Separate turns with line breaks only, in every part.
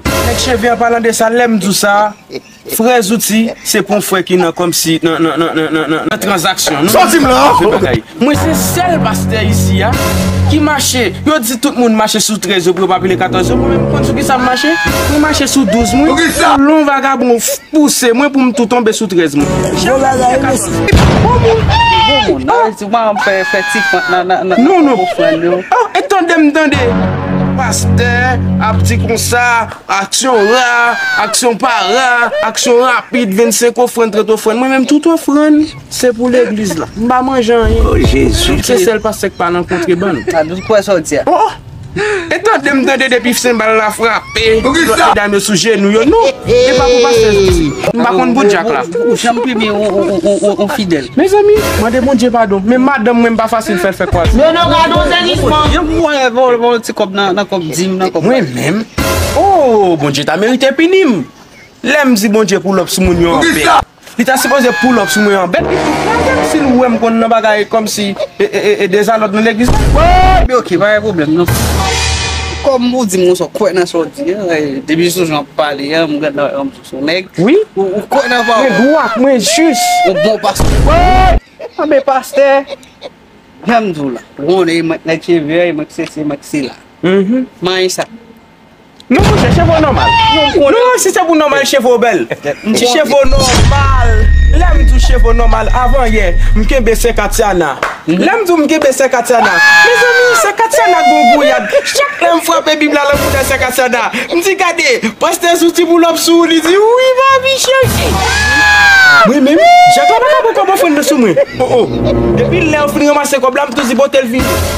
Nèg cheve an palan de sa lèm di w sa frè zouti se pou frè ki nan kòmsi nan tranzaksyon nou di sa pou
fè bagay mwen se
sèl pastè isi a ki mache yo di tout moun mache sou 13 yo pou yo pa pile 14 yo mwen menm m konn sou kisa m mache mwen mache sou 12 mwen kolon vagabon pouse mwen pou m tou tonbe sou 13 mwen.
Kouman ou fè fè ti fant nan nan nan nan nan ofrann yo? Non non eh tandem tande
pastè ap di konsa aksyon ra aksyon pa ra aksyon rapid 25 ofrann 30 ofrann mwen menm tout ofrann se pou legliz la m pa manje anyen oh jezi se
sèl pastè k pa
nan kontrebann oh oh. E tande m tande depi senbal la frape lot medam yo sou jenou yo non e pa pou pastè Jezi m pa konn bout djak la. Ou janm plimen
on fidèl. Mezanmi mande
Bondye padon men madanm mwen m pa fasil fèl fè kwaz. Non non gadon zenisman.
Yon pou mwen yon ti kob nan kob dim
nan kob. Mwen menm ooh Bondye ta merite pinim lèm di Bondye pou lop sou moun yo anfen. Li ta sipoze pull up sou mwen an bèt li fout kraze'm sil wèm konn nan bagay kòmsi e dezalòd nan legliz la. Woy be ok pa
gen pwoblèm nan. Kòm ou dim ou sòt kwè nan sa ou di an e depi sou jan ou pale an m gen dan rann ou son nèg ou kwè
nan pawòl
mwen dwat mwen jis
ou bon pastè
woy
an be pastè janm
di'w la ou konnen e mwen k nèg cheve an e mwen k sesi e mwen k sela manyen sa. Non
monchè cheve w nòmal. Non si se pou nòmal cheve w bèl. M di cheve w nòmal. Lè m di w cheve w nòmal avan yè m kenbe sè Katiana. Lè m di w m kenbe sè Katiana. Mezanmi sè Katiana gon gouyad. Chak lè m frape bib la lan moune sè Katiana. M di gade pastè sou ti boulòp sou ou li di wi papi chèchi. Mwen menm Jak la pa ka pran kòb ofrann nan sou mwen. Oh oh. Depi lè yo fin ranmase kòb la m tou di bote l vini.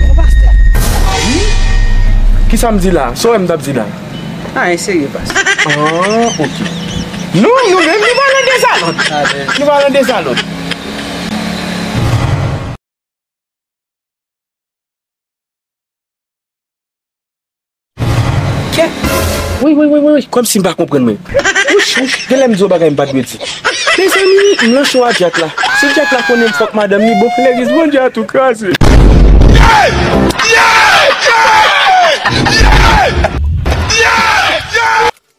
Bon pastè. Wi. Kisa m di la? Sa w wè m t ap di la? Anyen serye
pastè. An ok.
Nou nou menm nou pa nan dezalòd. Nou pa nan dezalòd. Kè? Woy woy woy woy, kòm si m pa konprann menm. Wouch wouch, gen lè m di yon bagay m pa t dwe di. Mezanmi, m lan cho a Dyak la. Si Dyak la konnen m fòk madanm li bon, lè riz manje a tou kraze.